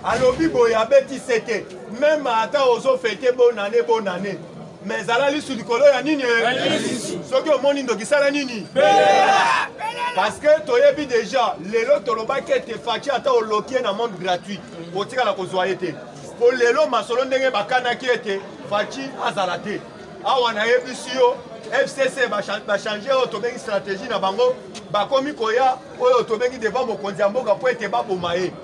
alobi boye abeti sete meme ata ozo fete bonane bonane me ezala lisu likolo ya nini soki omoni ndoki sala nini parce que toyebi déjà lelo tolobaki ete faci ata oloki ye na monde gratuit otikala kozwa ye te mpo lelo masolo ndenge bakanaki ete faci azala te awa nayebisi yo fcc bachange oyo tobengi stratégie na bango bakomi koya oyo tobengi devant mokonzi ya mboka mpo ete baboma ye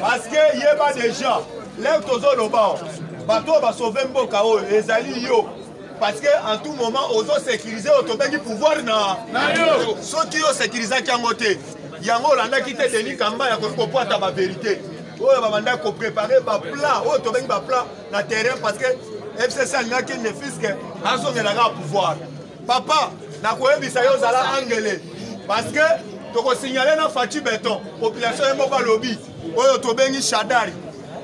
Parce que yeba déjà, lève ton zone au bas. bato oyo basauve mboka oyo ezali yo parce que en tout moment ozosécurise oyo tobengi pouvoir na soki yo sécurisaki yango te yango olandaki te denis kamba ya kopwata baverité oyo babandaki koprépare baplan oyo tobengi baplan na terrain parce que fcc alingaki nefiske azongelaka pouvoir papa nakoyebisa yo zala angele parce que tokosignale na faci beton population ye moko alobi oyo tobengi shadari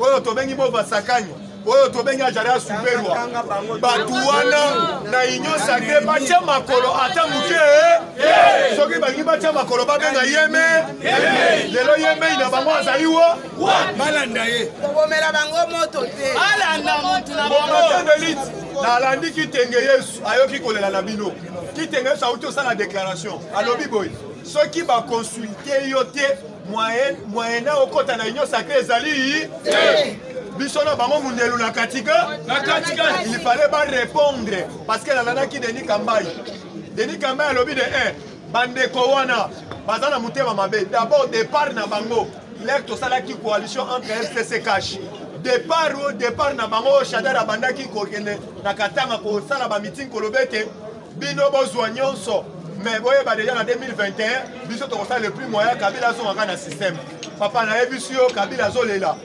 oyo tobengi bovasakani oyo tobengi ajara superwa bato wana na union sacre batya makolo ata moke eh? soki balingi batya makolo babenga yeme lelo yemei na bango azali wo balanda ye kobomela bango moto te balanda moto na bango nalandi kitenge yesu ayoki kolela na bino kitengeso auti osala déclaration alobi boye soki baconsulte yo te moyen na okota na union sacré ezali biso na bango mundelu na katika il fallait barépondre parce que nalandaki denis kambai denis kambai alobi de 1 eh, bandeko wana baza na motema mabe d'abord départ na bango lek tosalaki coalition entre fcc cash départ o départ na bango oyo shadar abandaki kokende na katanga kosala bamiting koloba ete bino bozwa nyonso mais boyeba deja na 2021 biso tokosala le plus moyen kabila azongaka na système papa nayebisi yo kabila azolela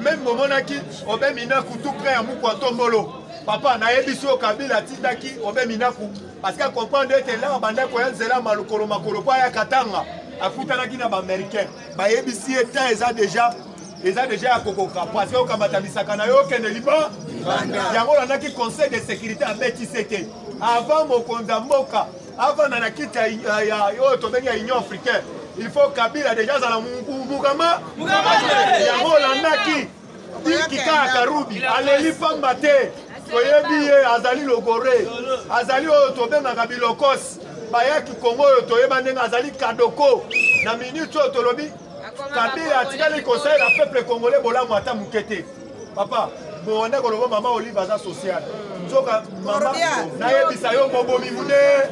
meme bomonaki obe minaku tout près ya muku ya tombolo papa nayebisi oyo kabila atindaki obe minaku parce que acomprendre ete elaka bandako ya nzela malokolo makolo mpo aya katanga akutanaki na baaméricain bayebisi ye temps eza deja eza deja ya kokoka parce que okamata misaka na yo okende liba yango olandaki conseil de sécurité abetise te avant mokonzi ya mboka avanda na kiti oyo tobengi ya union africaine il faut kabila deja azala mukama yango olandaki diki kaka karubi aleli pamba te toyebi ye azali logore azali oyo tobengaka bilokosi bayaki kongo oyo toyeba ndenge azali kadoko na minute oyo tolobi kabila atikali kosalela peuple congolais bolamu ata moke te papa bowanda koloba mama olive aza sociale nzoka mama nayebisa yo mobomi munene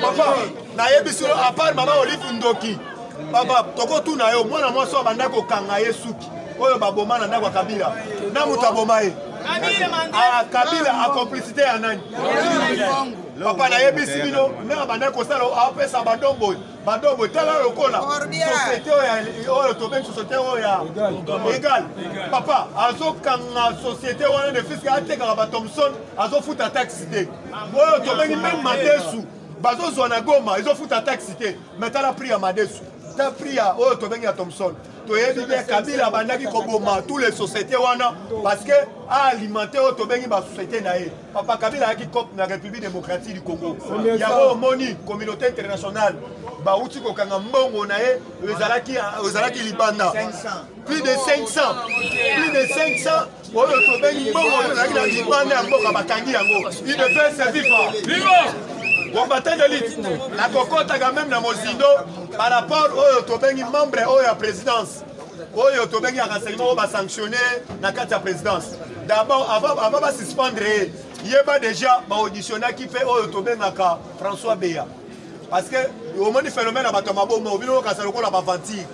papa nayebisi yo apart mama olive ndoki papa tokotuna yo mwana mwasi oyo abanda kokanga ye suki oyo baboma na ndako ya kabila na moto aboma ye ah, kabila acomplicité ya nani papa nayebisi bino ndenge abanda kosala apesa badomboyi badobo tala lokola société oyo tobengi société oyo ya egal papa azokanga société wana ne fiske atekaka ba thomson azofuta taxi te oyo tobengi meme madesu bazozwa na goma ezofuta taxi te me tala prix ya madesu ta prix ya oyo tobengi ya thomson toyebi bien kabila abandaki koboma tous les société wana parce que aalimente oyo tobengi basociété na ye papa kabila ayaki cope na république démocratique du congo yango omoni communauté internationale bauti kokanga mbongo na ye ezalaki libanda plus de 500 plus de 500 oyo tobengi mbongo oyo ezalaki na libanda ya mboka bakangi yango idps viva combattant d'élite nakokotaka meme na mozindo par rapport oyo tobengi membre oyo ya présidence oyo tobengi ya renseignement oyo basanctionne na kati ya présidence d'abord avant basuspendre ye yeba déjà baauditionaki mpe oyo tobengaka françois beya parce que omoni phénomène ya bato ya maboma obino okasa lokola baventure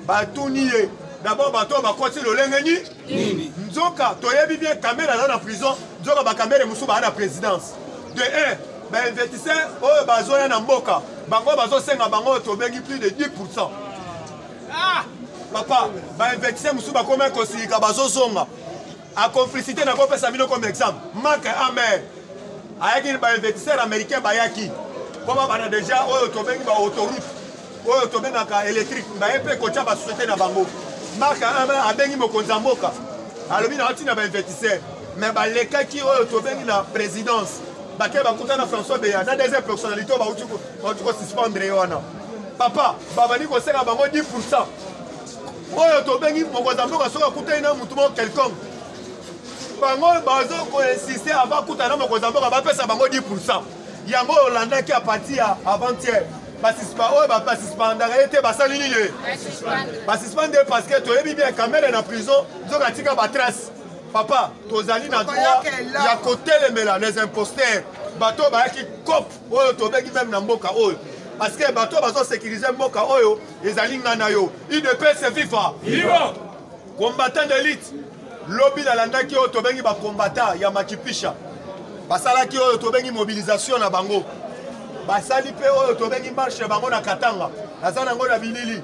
batuni ye d'abord bato oyo bakoti lolenge nini nzoka toyebi bien kamere aza na prison nzoka bakamere mosusu baa na présidence de 1 bainvestisseur oyo bazoya na mboka bango bazosenga bango oyo tobengi plus de 10 pourcent ah! papa bainvectise mosusu bakomai kosilika bazozonga acomplicité na kopesa bino comme exemple mak amer ayaki bainvectiseur américain bayaki mpo babanda déjà oyo tobengi baautorute oyo tobengaka électrique baye mpe kotya basociété na bango mak amer abengi mokonzi ya mboka alobi na otina bainvectiseur mais balekaki oyo tobengi na présidence bake bakuta na françois beya na deuxième personnalité oyo bauti bauti kosuspendre ye wana papa babandi kosenga bango 10 pourcent oyo tobengi mokonzi ya mboka soki akutani na motu moko quelconque bango bazo koinsiste ava akutana na mokonzi ya mboka bapesa bango 10 pourcent yango olandaki a partir ya avant-hier oyo basuspendaka ye te basali nini ye basuspende ye parce que toyebi bien kamere na prison nzoka atika batrace papa tozali na droit ya kotelemela les imposteurs bato bayaki cope oyo tobengi meme na mboka oyo parce que bato oyo bazosekirize mboka oyo ezali ngai na yo udps viva combattant d'élite lobi nalandaki oyo tobengi bacombattant ya makipisha basalaki oyo tobengi mobilisation na bango basali mpe oyo tobengi marche bango na katanga naza nango na bilili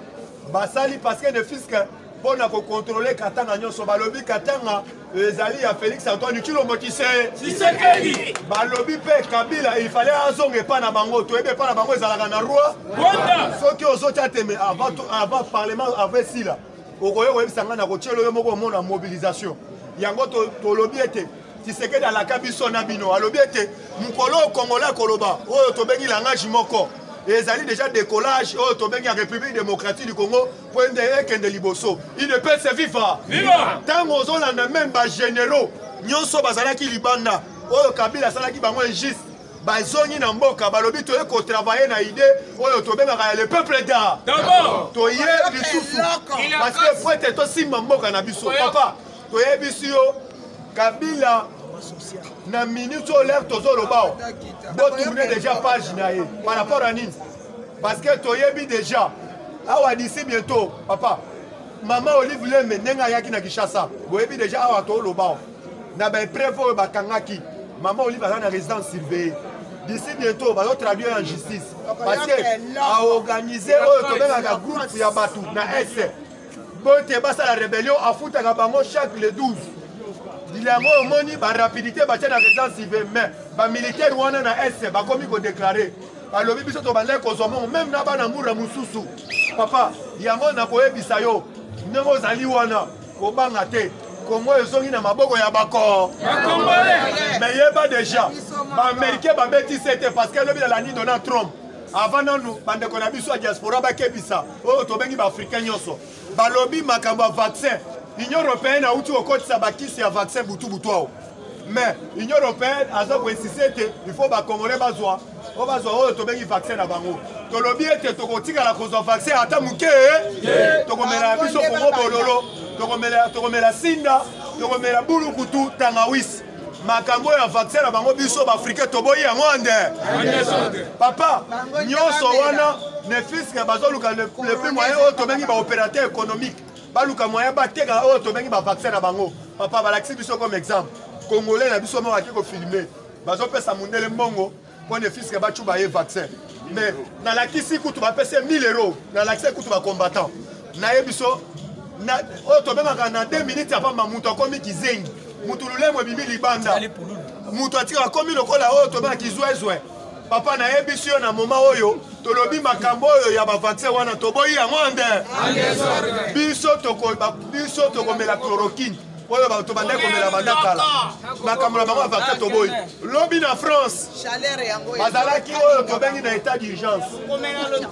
basali parce que ne fiske mpo na kokontrole katanga nyonso balobi katanga ezali ya félix antoine tshilombo tshisekedi balobi mpe kabila ifale azonga epai na bango toyebi epai na bango ezalaka na roi rwanda soki ozotya teme avant parlement avant esila okoki koyebisa ngai na kotyelo yo moko omona mobilisation yango tolobi ete tisekedi alaka biso na bino alobi ete mokolo oyo kongola akoloba oyo tobengi langage moko ezali deja décollage oyo tobengi ya république démocratique du congo Kwende ekende liboso. Udps viva. Viva. Tango ozolanda même ba généraux nyonso bazalaki libanda oyo Kabila asalaki bango injuste bazongi na mboka balobi toye kotravaille na idée oyo tobengaka ya le peuple da toye lisusu parce que fo ete tosimba mboka na biso papa toyebisi yo kabila na minute oyo lere tozoloba o botourne déjà page na ye par rapport ya nini parce que toyebi déjà awa d'ici bientôt papa mama olive lembe ndenge ayaki na kinshasa boyebi déjà awa toloba na baepreuve oyo bakangaki mama olive aza na résidence surveillée d'ici bientôt bazotraduire en justice parce que aorganize oyo tobengaka groupe ya bato na est bote basala rebellion afutaka bango chaque le 12 mokili yango omoni barapidité batya na résidence ive mais bamilitaire wana na est bakomi kodeklare balobi biso tobandaki kozwa mongo meme na bana mura mosusu papa yango nakoyebisa yo ndenge ozali wana kobanga te kongo ezongi na maboko ya bako me yeba deja baamericain babeti se te parce que elobi nalandi donald trump avant nanu bandeko na biso ya diaspora bakebisa oyo tobengi baafricain nyonso balobi makambo ya vaccin union européenne auti kokotisa bakisi ya vaccin butubutu ao mais union européenne aza koinsiste ete il faut bacongolais bazwa oyo bazwa oyo tobengi vaccin na bango tolobi ete tokotikala kozwa vaccin ata moke tokomela biso kongo bololo tokomela sinda tokomela bulukutu tangawisi makambo ya vaccin na bango biso baafrika toboyi yango ande papa nyonso wana ne fiske bazoluka le plus moyen oyo tobengi baopérateur économique baluka moyen bateka oyo tobengi bavaccin na bango papa balakisi biso comme exemple congolais na biso moko ake kofilme bazopesa mondele mbongo Point de fisque ba chuba ye vaccin. Mais na la kisi kutu ba pese 1000 euros. Na la kisi kutu ba combattant. Na ye biso na oyo to bemaka na 2 minutes apa ma mutu akomi kizengi. Mutu lulemo bimi libanda. Mutu atika akomi lokola oyo to bemaka kizwezwe. papa nayebisi yo na moma oyo tolobi makambo oyo ya bavaccin wana toboyi yango nde biso tokomela chloroquine oyo bato bandaki komela banda kala makambo na bango ya vaccin toboyi lobi na france bazalaki oyo tobengi na état d'urgence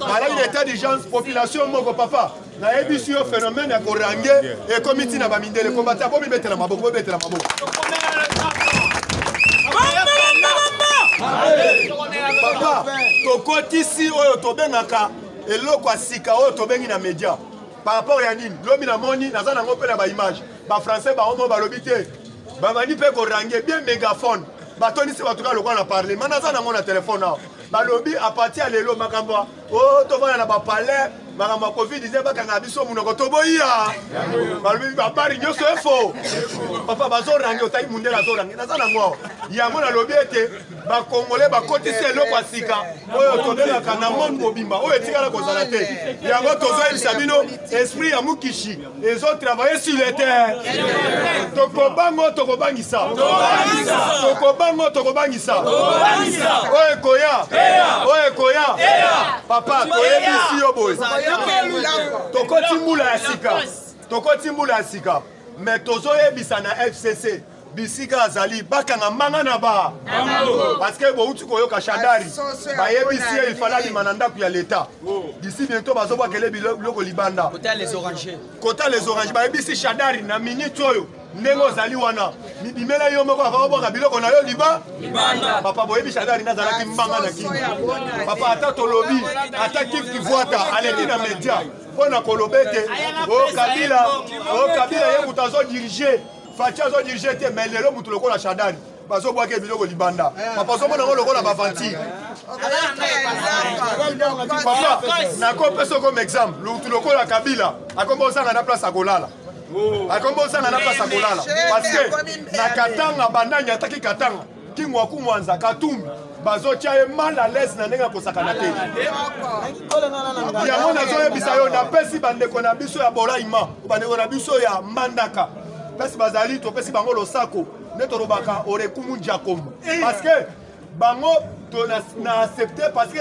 balaki na état d'urgence population moko papa nayebisi yo phénomène ya korange ekomi ntina bamindele kombata bomibetela maboko bobetela maboko papa tokotisi oyo tobengaka eloko ya sika oyo tobengi na média par rapport ya nini lobi namoni naza nango mpe na baimage bafrançais baomo balobi te babandi mpe korange bien mégaphone batondisi bato kaka lokola na parlement naza nango na telefone awa balobi apartir ya lelo makambo ya o oh, tofanda na bapalais makambo ya covid 19 bakanga biso monoko toboyiya balobi babari nyonso efo papa bazorange otali mundele azorange naza nango awa yango nalobi ete bakongole bakotisi eloko ya sika oyo tolelaka na monde mobimba oyo etikala kozala te yango tozoyebisa bino esprit ya mukishi ezotravaille sur le terre tokobango tokobangisa tokobango tokobangisa oyo ekoya oyo ekoya papa toyebisi yo boye tokoti mbula ya sika tokoti mbula ya sika me tozoyebisa na fcc bisika azali bakanga mbanga na ba parceke bouti koyoka shadari bayebisi ye ifale abima na ndako ya leta disi biento bazobwakele biloko libanda kota les orange bayebisi shadari na minute oyo ndenge ozali wana mibimela yo moko ava obwaka biloko na yo liba papa boyebi shadari nde azalaki mbanga na kini papa ata tolobi ata kif kivwata aleki na media mpo na koloba ete o oh, kabila o oh, kabila ye moto azodirige faci azo dirige te mais lelo motu lokola shadari bazobwaka biloko libanda eh. papa ozomona ngo lokola baventure papa nakopesa okoma exemple lutu lokola kabila akomba ozanga na place akolala oh. akomba ozanga na place akolala parce que na katanga banani ataki katanga kingwaku mwanza katumbi bazotya ye mal à l'aise na ndenge ya kosakana te yango nazoyebisa yo napesi bandeko na biso ya bolaima bandeko na biso ya mbandaka mpesi bazali topesi bango losako nde tolobaka orekumu jakomo parce que bango to na, na accepte parce que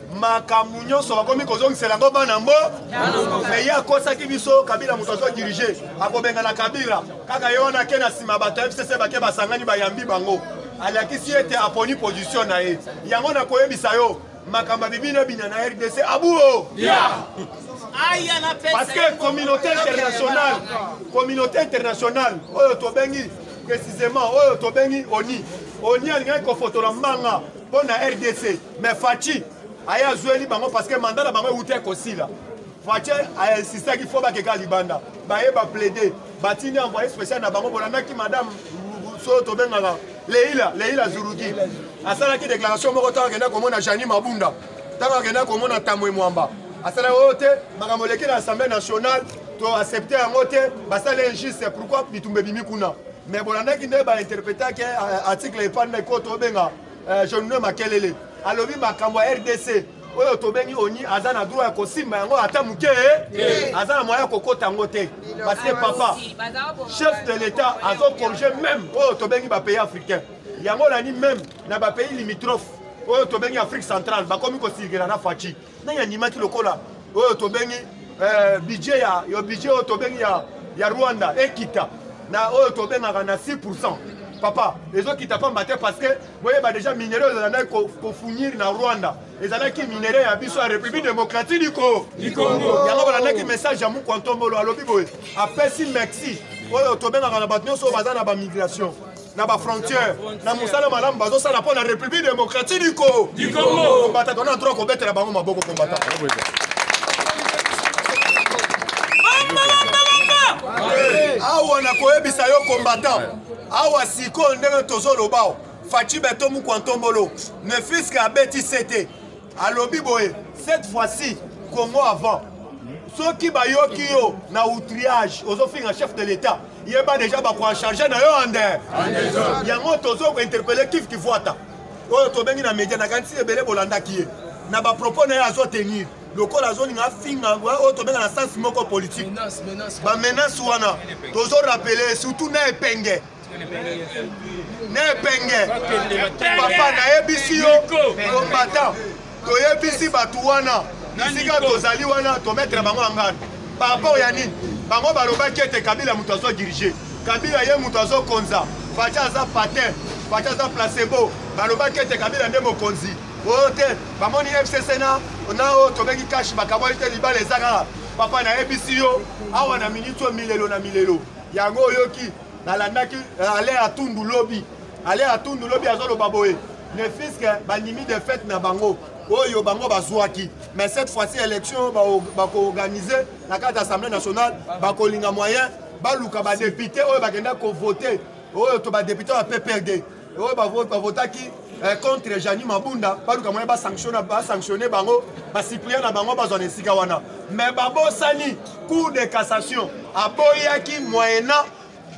makambo nyonso bakomi kozongisela yango bana mbo me ye akosaki biso kabila moto azo dirige akobengana kabila kaka ye wana ake na nsima bato ya fcc bake basangani bayambi bango alakisi ete aponi position na ye yango nakoyebisa yo makambo abibi na bina na rdc abuo parce que communauté internationale communauté internationale oyo tobengi précisément oyo tobengi oni oni alingaki kofotola mbanga mpo na rdc mais faci aye azweli bango parce que manda na bango euta ekosila faci ainsistaki fo bakeka libanda baye baplaide batindi envoye spécial na bango bolandaki madame so tobengaka leila leila zuruki asalaki déclaration moko ntango akenda komona jani mabunda ntango akenda komona tamwe mwamba asalaki oyo te makambo eleki na assemblée nationale to accepte yango te basala injuste pourquoi bitumba ebimi kuna mais bolandaki nde ba interpretaki eh, article epani na ko tobenga eh, jeune makelele alobi makambo ya rdc oyo tobengi oni aza na droit ya kosimba yango ata moke eh? aza na moyen ya kokota yango te parce que papa chef de l'état azocorrige même oyo tobengi bapays africain yango olandi même na bapays limitrophe oyo tobengi afrique centrale bakomi kosilikela na faci nani andimaki lokola oyo tobengi eh, budget ya yo budget oyo tobengi ya, ya rwanda ekita na oyo tobengaka na 6 pourcent papa ezokita pamba te parce que boyeba déjà minere oyo ezalaki kofunir na rwanda ezalaki minere ya biso ya république démocratie du congo yango balandaki message ya mukwantombolo alobi boye apesi mexi oyo tobengaka na bato nyonso oyo baza na bamigration na bafrontière na mosala malamu bazosala mpo na république démocratie du congo kombata tona droit kobetela bango maboko kombata awa nakoyebisa yo combattant awa sikoyo ndenge tozoloba faci beto mukwantombolo ne fiske abeti sete alobi boye cette fois-ci congo avant soki bayoki yo na outriage ozofinga chef de l'état yeba deja bakoancharge na yo ande yango tozokointerpele kif kivuata oyo tobengi na media nakanisi ebele bolandaki ye na bapropos na ye azotenir lokola azolinga afinga oyo tobenga na sense moko politike bamenace wana tozorapele surtout na epenge nepenge papa nayebisi yo combattant toyebisi bato wana bisika tozali wana tometre bango angano par rapport ya nini bango balobaki ete kabila moto azo dirige kabila ye moto azokonza faci aza patin faci aza placebo balobaki ete kabila nde mokonzi oyo te bamoni fcc na na oyo tobengi kashi bakaboli te libala eza kaka papa nayebisi yo awa na miniti oyo milelo na milelo yango oyoki nalandaki euh, ale ya tundu lobi ale ya tundu lobi azoloba boye ne fiske bandimi defete na bango oyo bango bazwaki mais cette fois-ci élection bakoorganize na kati ya assemblée nationale bakolinga moyen baluka badepute oyo bakenda kovote oyo to badepute ya pprd oyo bavotaki eh, contre jani mabunda baluka moye basanctionne bango basiplia na bango bazwa na esika wana me babosani cour de cassation aboyaki moyena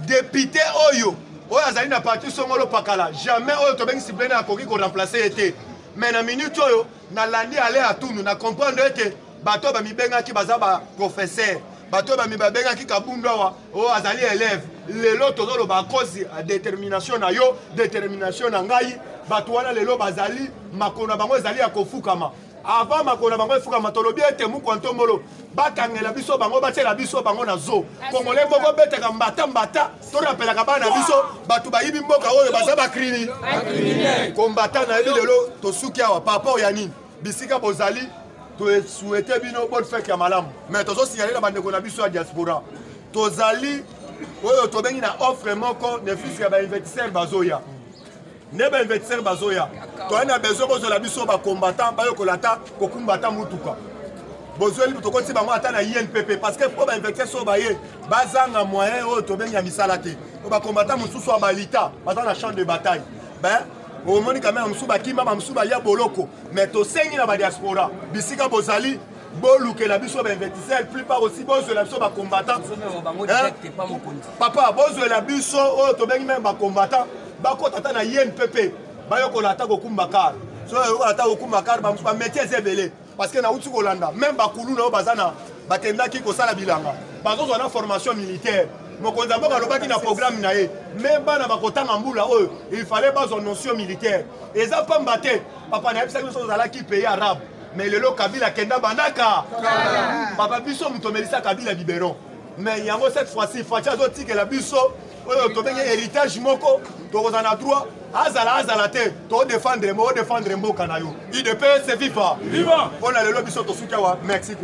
depute oyo oyo azali na parti songolo pakala jamais oyo tobengi siplene akoki koremplace ye te me na minute oyo nalandi ale atundu na comprendre ete bato oyo bamibengaki baza baprofesseur bato oyo babengaki kabundu awa oyo oh, azali elève lelo tozoloba akozi ya détermination na yo détermination na ngai bato wana lelo bazali makolo na bango ezali ya kofukama avant makolo na bango efukama tolobi ete mukwa ntombolo bakangela biso bango batiela biso bango na zo kongole moko betaka mbata mbata torapelaka bana biso bato bayibi mboka oyo baza bakrimi kombata nayebi lelo tosuki awa paraport ya nini bisika bozali tosuete bino bonne fete ya malamu mais tozosignale na bandeko na biso ya diaspora tozali oyo tobengi na offre moko ne fils ya bainvestisseur bazoya nde ba investisseur bazoya toyani na besoin bozwela biso bacombattant bayokola ata kokumba ata motuka bozweli tokoti bango ata na inpp parce que mpo bainvecteur so baye bazanga moyen oyo tobengi ya misala te oyo bakombata mosusu ya balita baza na champ de bataille ben omoni kamera mosusu bakima bamosusu baya boloko mais tosengi na badiaspora bisika bozali bolukela biso bainvestiseur plupart aussi bozwela biso bacombattant papa bozwela biso oyo tobengi meme bacombattant bakota ata na yen pepe bayokola ata kokumba kar so bayokola ata kokumba kar bametie eza ebele parce que nauti kolanda meme bakulu na oyo baza na bakendaki kosala bilanga bazozwa na formation militaire mokonzi ya mboka alobaki na programme na ye me bana bakotanga mbula oyo il fallait bazwa notion militaire eza pamba te papa nayebisaki biso ozalaki pays arabe mais lelo kabila kenda bandaka papa biso moto omelisa kabila biberon mais yango cette fois-ci faci azotikela biso oyo tobengi héritage moko tokozala na droit azala azala te todefendre odefendre mboka na yo idps viva mpo na lelo biso tosuki awa mexico